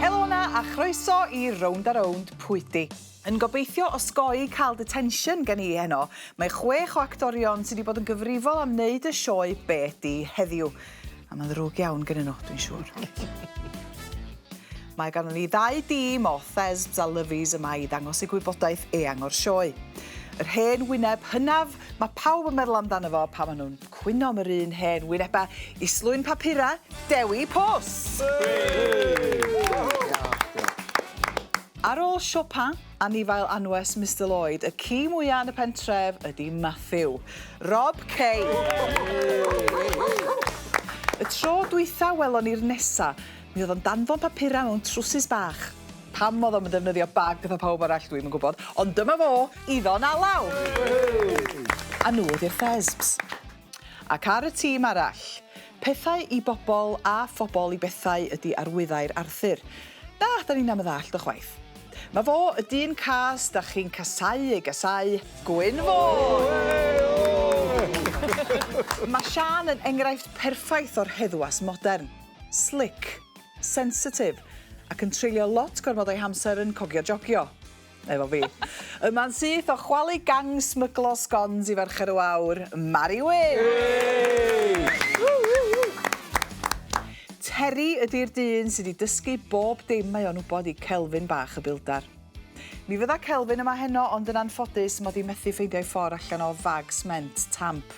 Helo na a chroeso i Rownd a Rownd Pwydi. Yn gobeithio osgoi cael detention gen i heno. Mae chwech o actorion sydd wedi bod yn gyfrifol am wneud y sioe Be Di heddiw. A mae'n ddrwg iawn gen nhw, dwi'n siŵr. Mae gan ni ddau dîm o Thesbs a Lyfies yma i ddangos y gwybodaeth eang o'r sioe. Yr hen wyneb hynaf, mae pawb yn meddwl amdano fo pan maen nhw'n Cwynom yr un hen wynebau i slwyn papurau Dewi Post! Ar ôl siopa anifail anwes Mister Lloyd, y ci mwya yn y pentref ydi Matthew. Rob Kay! Y tro dwytha welon ni'r nesa, mi oedd o'n danfon papurau mewn trwsus bach. Pam odd o'm yn defnyddio bag fatha pawb arall dwi'm yn gwbod ond dyma fo iddo'n alaw! A nhw ydi'r Thesbs. Ac ar y tîm arall. Pethau i bobl a phobl i bethau ydi arwyddau'r Arthur. Na, 'dan ni'nam yn ddallt o chwaith. Ma fo y dyn cas 'dach chi'n casau ei gasau, Gwyn Fôn! Ma Siân yn enghraifft perffaith o'r heddwas modern. Slick. sensitif ac yn treulio lot gormod o'i hamser yn cogio jogio. Efo fi. Yma'n syth o chwalu gang smyglo sgons i Fercher y Wawr, Mari Wyn! Terry ydi'r dyn sy 'di dysgu bob dim mae o'n wbod i Kelvin bach y bildar. Mi fydda Kelvin yma heno ond yn anffodus mod i methu ffeindio ei ffor allan o fag sment tamp.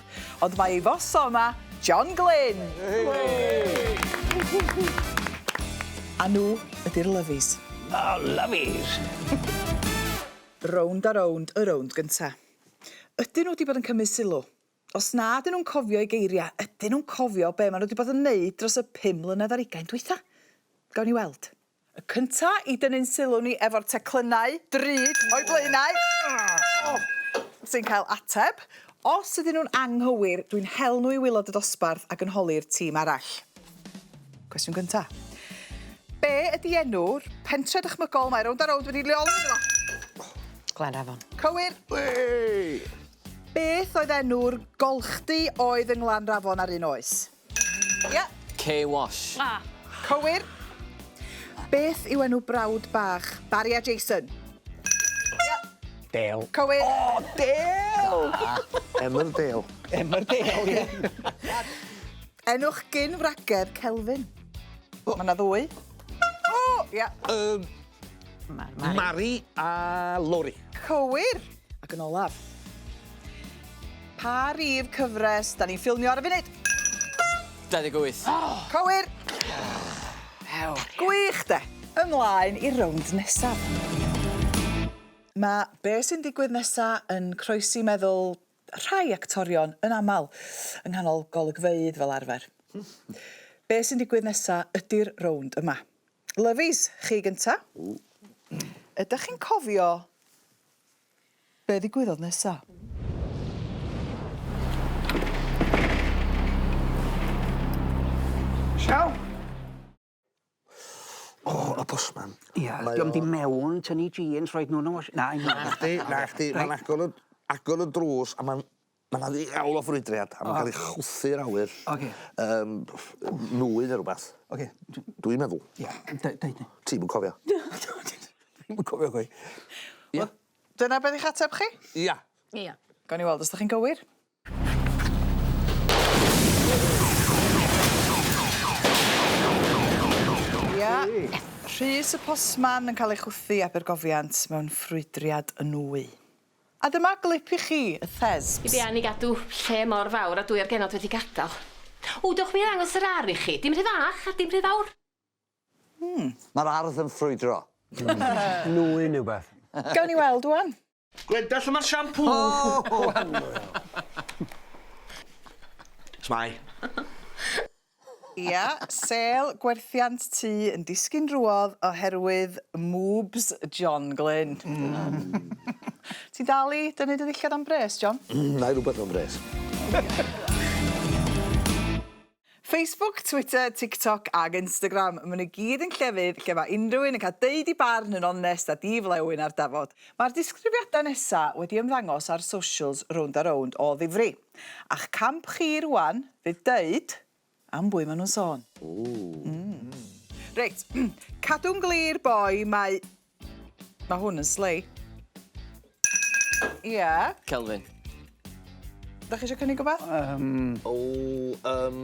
Ond mae ei foso yma, John Glyn! A nhw ydy'r Lovies. The Lovies! Rownd a rownd y rownd gynta. Ydyn nhw wedi bod yn cymryd sylw? Os na ydyn nhw'n cofio ei geiriau, ydyn nhw'n cofio be maen nhw wedi bod yn wneud dros y pum mlynedd ar ugain dwytha? Gawn ni weld. Y cynta i dynnu'n sylw ni efo'r teclynnau drud o'u blaenau. Sy'n cael ateb. Os ydyn nhw'n anghywir, dwi'n hel nhw i waelod y dosbarth ac yn holi'r tîm arall. Cwestiwn gynta. Be ydy enw'r pentre dychmygol mae Rownd a Rownd wedi leoli ynddo fo? Glanafon. Cywir. Wei! Beth oedd enw'r golchdy oedd yng Nglanrafon ar un oes? Ie. K-Wash. A! Cywir. Beth yw enw brawd bach Barry a Jason? Ie. Dale. Cywir. O! Dale! Da. Emmerdale. Emmerdale, ie. Enw'ch gyn-wragedd Kelvin? O! Ma' 'na ddwy. O! Ie. Yym. Mari. Mari. Mari a Lori. Cywir! Ac yn olaf. Pa rif cyfres da ni'n ffilmio ar y funud? 28. Oh! Cywir! Ew. Gwych de! Ymlaen i'r rownd nesaf. Mae be sy'n digwydd nesaf yn croesi meddwl rhai actorion yn aml yng nghanol golygfeydd fel arfer. Be sy'n digwydd nesaf ydy'r rownd yma. Lovies, chi gynta. Ydach chi'n cofio be ddigwyddodd nesa? Siaw! O, y postman. Ia, 'di o'm 'di mewn tynnu jeans rhoid n'w yn y wash- na un o 'na chdi 'na chdi ma'n agor y agor y drws a ma'n Ma' 'na ddiawl o ffrwydriad a ma'n ca'l 'i chwythu i'r awyr. Oce. Yym nwy ne' rwbath. Oce dw-... Dwi'n meddwl. Ia deu- deud di. Ti'm yn cofio. Dwi'm yn cofio chwaith. Ia? Wel dyna be' 'di'ch ateb chi? Ia. Ia. Gawn ni weld os 'dach chi'n gywir. Ia. Rhys y postman yn ca'l ei chwythu i Abergofiant mewn ffrwydriad nwy. A dyma glip i chi, y Thesbs. Be am ni gadw lle mor fawr a dwy o'r genod wedi gadael? Ww, dewch i mi ddangos yr ardd i chi. Dim rhy fach a dim rhy fawr. Hmm. Mae'r ardd yn ffrwydro. Nwy'n yw beth. Gawn ni weld ŵan. Gwenda lle mae'r siampŵ? Shwmae. Ia, sêl gwerthiant tŷ yn disgyn drwodd oherwydd mwbs John Glyn. Ti'n dal i dynnu dy ddillad am bres, John? Mm, nai rwbeth am bres. Facebook, Twitter, TikTok ag Instagram, ma' n'w gyd yn llefydd lle ma' unrhyw un yn cael deud 'i barn yn onest a di-flewyn ar dafod. Mae'r disgrifiadau nesa' wedi ymddangos ar socials rownd a rownd o ddifri. A'ch camp chi rwan fydd deud am bwy ma' nhw'n sôn. Reit, cadw'n glir boi mae... Ma' hwn yn slei. Ia? Kelvin. 'Dach chi isio cynnig wbath? Yym. O yym.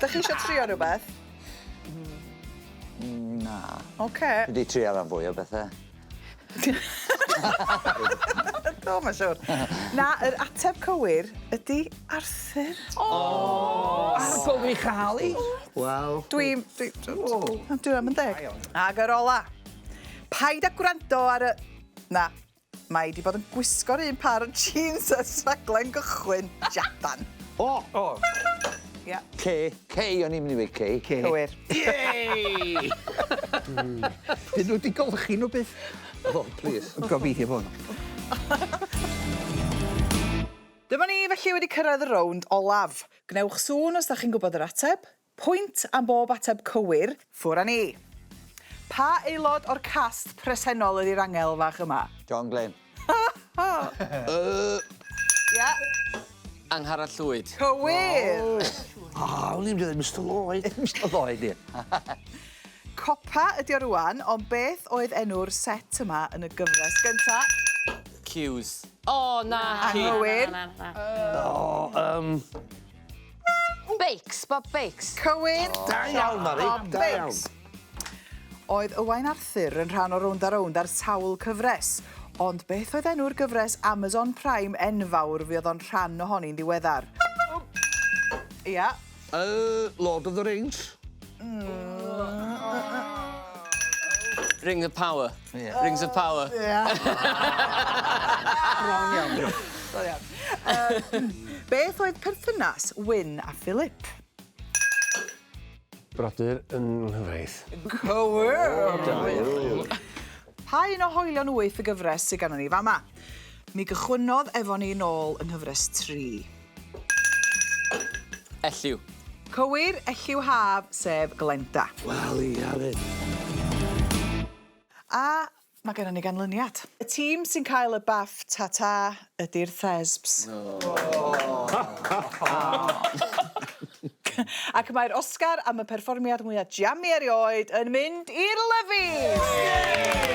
Dach chi isio trio rwbeth? Mm, na. Oce. Dwi 'di trio ran fwy o bethe. Do, mae'n siwr. Na, yr ateb cywir ydy Arthur. O! Ar bwg i chael i. Wel... Dwi... Dwi... O! Dwi am yn deg. Ag yr ola. Paid a gwrando ar y... Na. Mae 'di bod yn gwisgo'r un pâr o jîns ers rhaglen gychwyn Japan. O! O! Ia. Kay. Kay, o'n i'm myn' i weud Kay. Kay. Cywir. Yay! Dyn nw 'di golchi nw byth. O, plîs. Gobeithio bo' nw. Dyma ni felly wedi cyrraedd y rownd olaf. Gwnewch sŵn os 'dach chi'n gwbod yr ateb. Pwynt am bob ateb cywir. Ffwr a ni! Pa aelod o'r cast presennol ydi'r angel fach yma? John Glyn. Ie. Angharad Llwyd. Cywir! O! O'n i'n mynd i ddeud Mister Lloyd. Mister Lloyd, ie. Copa ydi o rŵan, ond beth oedd enw'r set yma yn y gyfres gynta? Cues. O, naci! Anghywir. O, yym. Bakes, Bob Bakes. Cywir. O, da iawn, Mari. Bob Bakes. Da iawn. Oedd Ywain Arthur yn rhan o Rownd a Rownd ar sawl cyfres, ond beth oedd enw'r gyfres Amazon Prime enfawr fi oedd o'n rhan ohoni'n ddiweddar? Ia. Yy, Lord of the Rings. Ring of power. Ie. Rings of power. Ie. Wrong iawn. Da iawn. Yym beth oedd perthynas Wyn a Philip? Brodyr yn nghyfraith. Cywir! Da iawn. Pa un o hoelion wyth y gyfres sy ganddon ni fama? Mi gychwynnodd efo ni nôl yng nghyfres tri. Elliw. Cywir, Elliw Haf, sef Glenda. Wel, ia 'fyd. A mae gennon ni ganlyniad. Y tîm sy'n cael y baff ta-ta ydi'r Thesbs. Ac mae'r Oscar am y perfformiad mwya' jammy erioed yn mynd i'r Lyfis! Yay!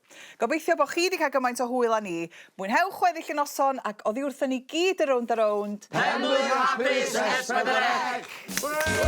Gobeithio bo chi 'di cael gymaint o hwyl â ni. Mwynhewch weddill y noson ac oddi wrthon ni gyd yn rownd a rownd. Penblwydd hapus S4C!